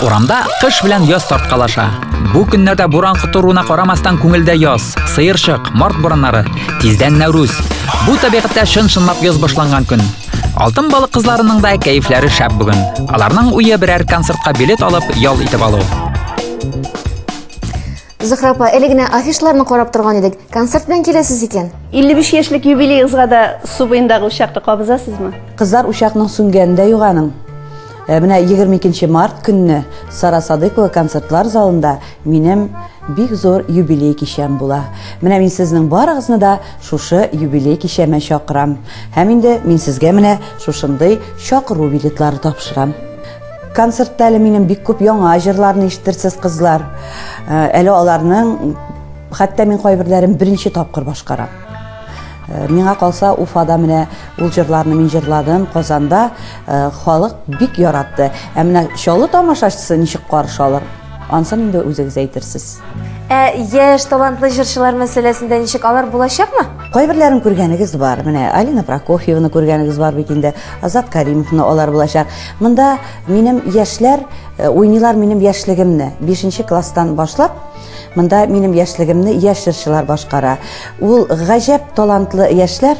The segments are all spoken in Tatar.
Урамда кыш белән яз тарткалаша. Бу көннәрдә буран котыруына карамастан күңелдә яз, сыерчык, март борыннары, тиздән Нәүрүз. Бу табигатьтә чын-чынлап яз башланган көн. Алтын балык кызларының да кәефләре шәп бүген. Аларның уе берәр концертка билет алып, ял итеп алу. Зөхра апа, әле генә афишларны карап торган идек. Концерт белән киләсез икән. 55 яшьлек юбилеегызга да су буендагы учакта кабызасызмы? Кызлар учакның сүнгәнен дә юганың. Э, менә 22 март көнне Сара Садыкова концертлар залында минем бик зур юбилей кичәм була. Менә мин сезнең барыгызны да шушы юбилей кичәмә чакырам. Һәм инде мин сезгә менә шушындый чакыру билетлары тапшырам. Концертта әле минем бик күп яңа җырларны ишетерсез кызлар. Э, әле аларның хәтта мин кайберләрен беренче тапкыр башкарам. Э, миңа калса Уфада менә ул җырларны мин җырладым, Казанда Халык бик яратты. Ә менә Чаллы тамашачысы ничек каршы алыр? Ансын инде үзегез әйтерсез. Ә яшь талантлы җырчылар мәсьәләсендә ничек алар булачакмы? Кайберләрен күргәнегез бар. Менә Алина Прокофьеваны күргәнегез бар бит инде. Азат Каримовны алар булачак. Монда минем яшьләр э, уйныйлар минем яшьлегемне. 5 класстан башлап Монда минем яшьлегемне яшь җырчылар башкара. Ул гаҗәп талантлы яшьләр,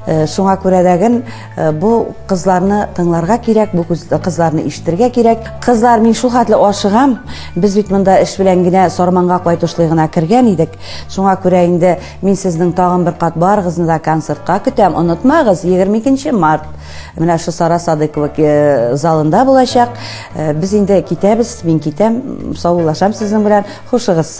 э, шуңа күрә дәген Э, бу кызларны тыңларга кирәк бу кызларны ишетергә кирәк кызлар мин шул хәтле ашыгам без бит монда эш белән генә сарманга кайтышлый гына кергән идек шуңа күрә инде мин сезнең тагын бер кат барыгызны да концертка көтәм онытмагыз 22 март менә шу сара садыкова э, залында булачак э, без инде китәбез мин китәм саулашам сезнең белән хушыгыз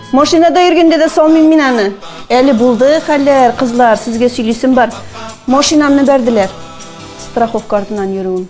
Машинада йөргәндә дә салмыйм мин аны. Әле булды хәлләр, кызлар, сезгә сөйлисем бар. Машинамны бәрделәр. Страховка артыннан йөрүем.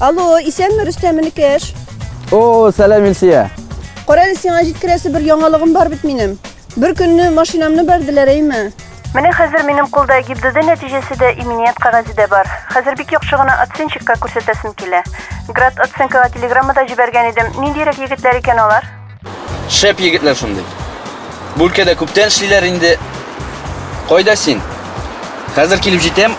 Алло, исәнме Рөстәм Инекеш? О, сәлам Илсия. Кара әле сиңа җиткерәсе бер яңалыгым бар бит минем. Бер көнне машинамны бәрделәр, әйме? Менә хәзер минем кулда ГИБДД нәтиҗәсе дә, иминият кәгазе дә бар. Хәзер бик яхшы гына оценщикка күрсәтәсем килә. Град оценкага телеграмма да җибәргән идем. Ниндиерәк егетләр икән алар? Шәп егетләр шундый. Бу өлкәдә күптән эшлиләр инде. Кайда син? Хәзер килеп җитәм.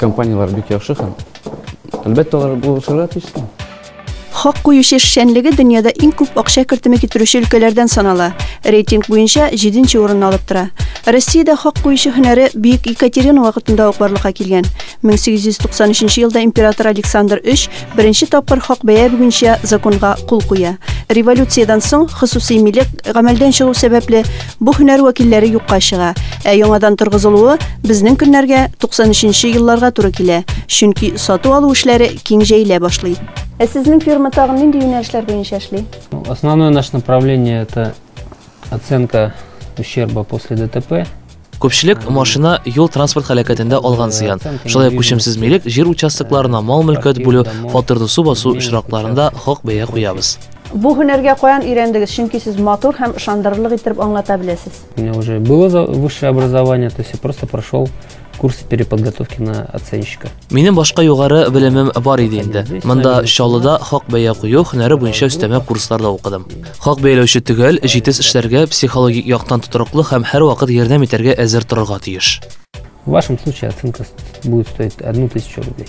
компанияләр бик яхшы һәм әлбәттә алар булышырга тиеш. Хак куючы эшчәнлеге дөньяда иң күп акча кертеме китерүче өлкәләрдән санала. Рейтинг буенча 7 нче урынны алып тора. Россиядә хак куючы һөнәре Бөек Екатерина вакытында ук барлыкка килгән. 1893 елда император Александр III беренче тапкыр хак бәя буенча законга кул куя. Революциядән соң хосусый милек гамәлдән чыгу сәбәпле Бу һөнәр вәкилләре юкка чыга, ә яңадан торгызылуы безнең көннәргә 93 нче елларга туры килә, чөнки сату-алу эшләре киң җәелә башлый. Ә сезнең фирма тагын нинди юнәлешләр буенча эшли? Основное наше направление это оценка ущерба после ДТП. Күпчелек машина юл транспорт халәкәтендә алган зыян. Шулай ук күчемсез милек, җир участокларына мал-мөлкәт бүлү, фатирлы су басу очракларында хак бәя куябыз. Бу һөнәргә каян өйрәндегез? Чөнки сез матур һәм ышандырырлык иттереп аңлата беләсез. У меня уже было за- высшее образование, то есть я просто прошел курс переподготовки на оценщика. Минем башка югары белемем бар иде инде. Монда Чаллыда хак бәя кую һөнәре буенча өстәмә курслар да укыдым. Хак бәяләүче төгәл, җитез эшләргә, психологик яктан тотрыклы һәм һәрвакыт ярдәм итәргә әзер торырга тиеш. В вашем случае оценка ст- будет стоить одну тысячу рублей.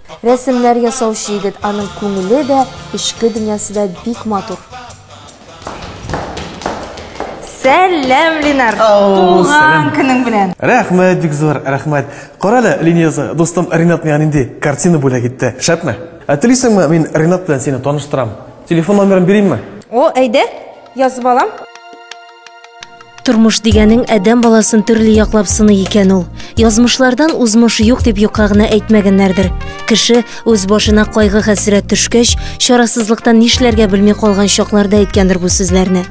Рәсемнәр ясаучы егет, аның күңеле дә, эчке дөньясы да бик матур. Сәлам, Ленар! Туган көнең белән! Рәхмәт, бик зур рәхмәт. Карале, Лениза, за дустым Ренат миңа нинди картина бүләк итте. Шәпме? Ә телисеңме, мин Ренат белән сине таныштырам. Телефон номерын бирим ме? О, әйдә, язып алам. Тормыш дигәнең адәм баласын төрле яклап сыный икән ул. Язмышлардан узмыш юк дип юкка гына әйтмәгәннәрдер. Кеше үз башына кайгы хәсрәт төшкәч, чарасызлыктан нишләргә белми калган чакларда әйткәндер бу сүзләрне.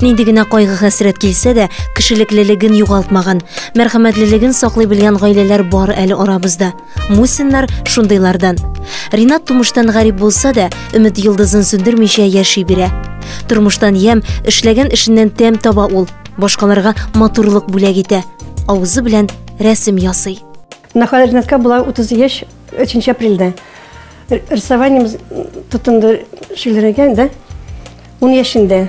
Нинди генә кайгы хәсрәт килсә дә, кешелеклелеген югалтмаган, мәрхәмәтлелеген саклый белгән гаиләләр бар әле арабызда. Мусиннар шундыйлардан. Ринат тумыштан гарип булса да, өмет йолдызын сүндермичә яши бирә. Тормыштан ям, эшләгән эшеннән тәм таба ул. Башкаларга матурлык бүләк итә. Авызы белән рәсем ясый. Нахал Ринатка була 30 яшь 3 апрельдә. Рисованием тотынды шигырьгә, да? 10 яшендә.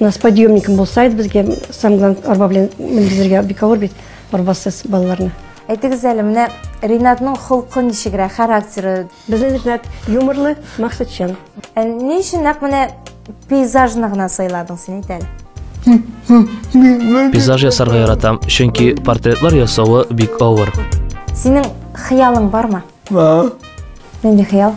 У нас подъемником булса иде безгә, самое главное, арба белән менгезергә бик авыр бит арбасыз балаларны. Әйтегез әле, менә Ринатның холкы ничегрәк, характеры? Безнең Ринат юморлы, максатчан. Ә ни өчен нәкъ менә пейзажны гына сайладың син әйтәле? Пейзаж ясарга яратам, чөнки портретлар ясавы бик авыр. Синең хыялың бармы? Нинди хыял?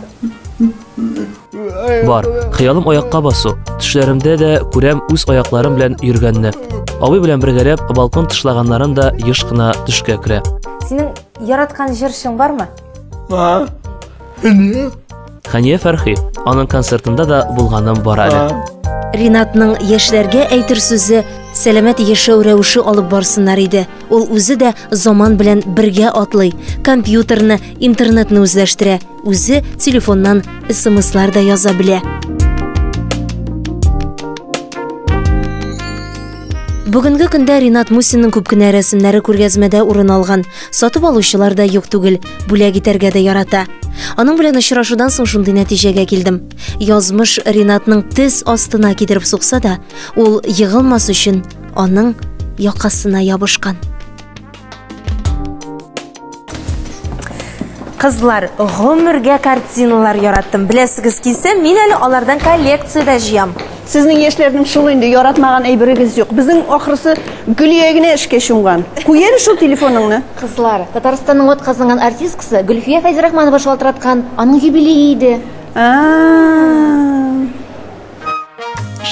Бар, хыялым аякка басу. Төшләремдә дә күрәм үз аякларым белән йөргәнне. Абый белән бергәләп балкон тышлаганнарын да еш кына төшкә керә. Синең яраткан җырчың бармы? Бар. Эне. Хәния Фәрхи, аның концертында да булганым бар әле. Ринатның яшьләргә әйтер сүзе сәламәт яшәү рәвеше алып барсыннар иде. Ул үзе дә заман белән бергә атлый, компьютерны, интернетны үзләштерә, үзе телефоннан смслар да яза белә. Бүгенге көндә Ринат Мусинның күп кенә рәсемнәре күргәзмәдә урын алган. Сатып алучылар да юк түгел, бүләк итәргә дә ярата. Аның белән очрашудан соң шундый нәтиҗәгә килдем. Язмыш Ринатның тез астына китереп сукса да, ул егылмас өчен аның якасына ябышкан. Кызлар, гомергә картиналар яраттым. Беләсегез килсә, мин әле алардан коллекция дә җыям. Сезнең яшьләрнең шул инде, яратмаган әйберегез юк. Безнең ахрысы Гөлия генә эшкә чумган. Куй әле шул телефоныңны. Кызлар, Татарстанның атказанган артисткасы Гөлфия Фәйзрахманова шалтыраткан, аның юбилее иде. А-а-а.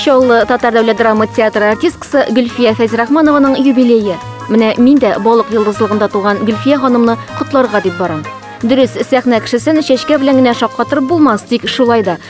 Чаллы татар дәүләт драма театры артисткасы Гөлфия Фәйзрахманованың юбилее. Менә мин дә балык йолдызлыгында туган Гөлфия ханымны котларга дип барам. Дөрес, сәхнә кешесен чәчкә белән генә шаккатырып булмас, тик шулай да,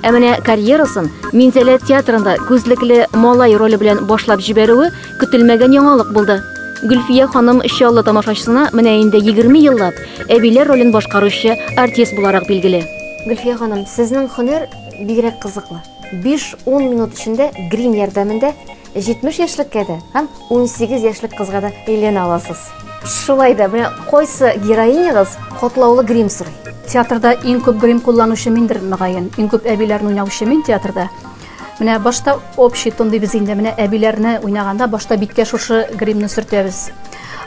Ә менә карьерасын Минзәлә театрында күзлекле малай роле белән башлап җибәрүе көтелмәгән яңалык булды. Гөлфия ханым Чаллы тамашачысына менә инде 20 еллап әбиләр ролен башкаручы артист буларак билгеле. Гөлфия ханым, сезнең һөнәр бигрәк кызыклы. Биш-ун минут эчендә грим ярдәмендә 70 яшьлеккә дә һәм 18 яшьлек кызга да әйләнә аласыз. Шулай да, менә кайсы героинягыз котлаулы грим сорый? Театрда иң күп грим кулланучы миндер, мөгаен. Иң күп әбиләрне уйнаучы мин театрда. Менә башта общий тон дибез инде, менә әбиләрне уйнаганда башта биткә шушы гримны сөртәбез.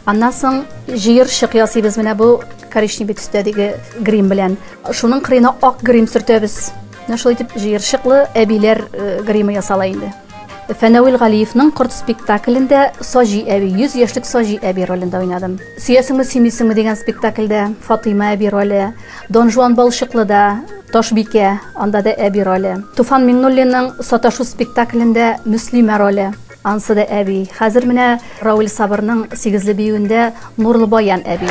Аннан соң җыерчык ясыйбыз менә бу коричневый төстәдәге грим белән. Шуның кырыена ак грим сөртәбез. Менә шулай итеп җыерчыклы әбиләр э, гримы ясала инде. Фәнәвил Галиевның Корт спектаклендә Саҗи әби, 100 яшьлек Саҗи әби ролендә уйнадым. Сөясеңме, сөймисеңме дигән спектакльдә Фатыйма әби роле, Дон Жуан Балчыклыда Ташбикә, анда да әби роле. Туфан Миңнуллинның Саташу спектаклендә Мөслимә роле, ансы да әби. Хәзер менә Равил Сабырның Сигезле биюендә Нурлыбаян әби.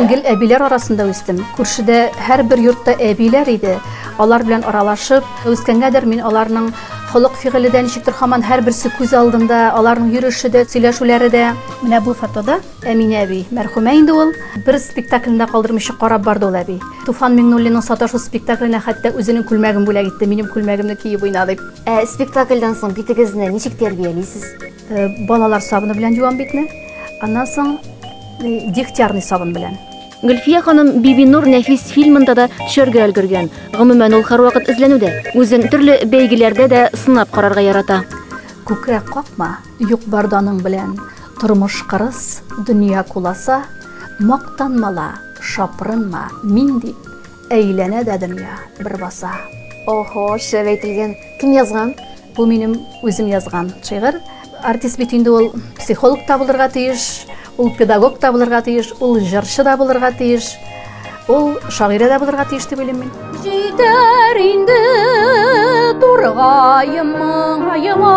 гел әбиләр арасында үстем. Күршедә һәрбер йортта әбиләр иде. Алар белән аралашып, Үскәнгәдер, мин аларның холык-фигыле дә ничектер һаман һәрберсе күз алдында, аларның йөреше дә, сөйләшүләре дә. Менә бу фотода Әминә әби, мәрхүмә инде ул, бер спектакльне дә калдырмыйча карап барды ул әби. Туфан Миңнуллинның Саташу спектакленә хәтта үзенең күлмәген бүләк итте, минем күлмәгемне киеп уйна дип. Ә спектакльдән соң битегезне ничек тәрбиялисез? Балалар сабыны белән юам битне, аннан соң Дегтярный сабын белән. Гөлфия ханым Бибинур нәфис фильмында да төшәргә өлгергән. Гомумән, ул һәрвакыт эзләнүдә. Үзен төрле бәйгеләрдә дә сынап карарга ярата. Күкрәк какма, юк барданың белән, Тормыш кырыс, дөнья куласа, Мактанмала, шапрынма, мин дип, Әйләнә дә дөнья, бер баса. Охо, шәп әйтелгән. Кем язган? Бу минем үзем язган шигырь. Артист бит инде ул психолог та булырга тиеш, ул педагог та булырга тиеш, ул җырчы да булырга тиеш, ул шагыйрә дә булырга тиеш дип уйлыйм мин. Җитәр инде тургаем моңаема.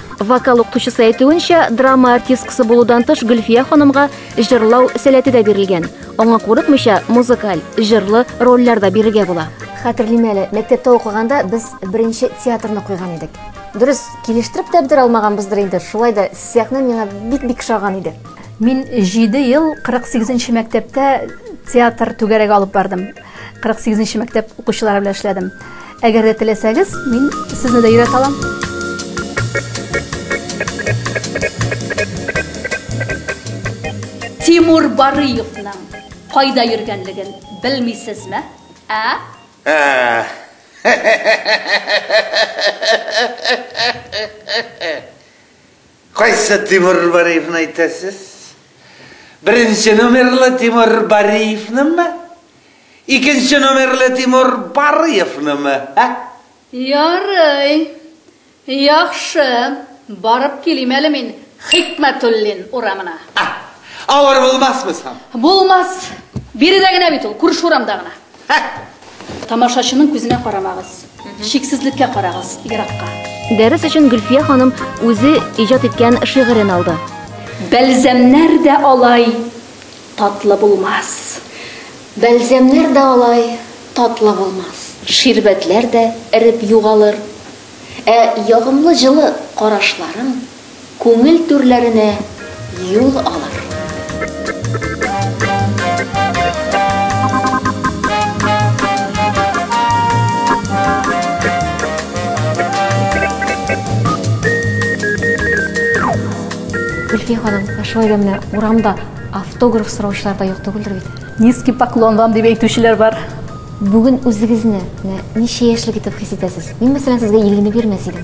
Вокал укытучысы әйтүенчә, драма артисткасы булудан тыш Гөлфия ханымга җырлау сәләте дә бирелгән. Аңа курыкмыйча, музыкаль, җырлы рольләр дә бирергә була. Хәтерлим әле, мәктәптә укыганда без беренче театрны куйган идек. Дөрес, килештереп тә бетерә алмаганбыздыр инде, шулай да сәхнә миңа бик-бик шаган иде. Мин 7 ел 48 нче мәктәптә театр түгәрәге алып бардым. 48 нче мәктәп укучылары белән эшләдем. Әгәр дә теләсәгез, мин сезне дә өйрәтә алам. Тимур Барыевның кайда йөргәнлеген белмисезме? Ә? Ә. Кайсы Тимур Бариевны әйтәсез? Беренче номерлы Тимур Бариевнымы? Икенче номерлы Тимур Барыевнымы, ә? Ярый. Яхшы, барып килим әле мин Хикмәтуллин урамына. Авыр булмасмы соң? Булмас. Биредә генә бит ул, күрше урамда гына. Тамашачының күзенә карамагыз. Чиксезлеккә карагыз, еракка. Дәрес өчен Гөлфия ханым үзе иҗат иткән шигырен алды. Бәлзәмнәр дә алай татлы булмас. Бәлзәмнәр дә алай татлы булмас. Ширбәтләр дә эреп югалыр. Ә ягымлы җылы карашларың. Күңел түрләренә юл алыр. Гөлфия ханым, ә шулай да менә урамда автограф сораучылар да юк түгелдер бит? Низкий поклон вам, дип әйтүчеләр бар. Бүген үзегезне менә ничә яшьлек итеп хис итәсез? Мин, мәсәлән, сезгә илгене бирмәс идем.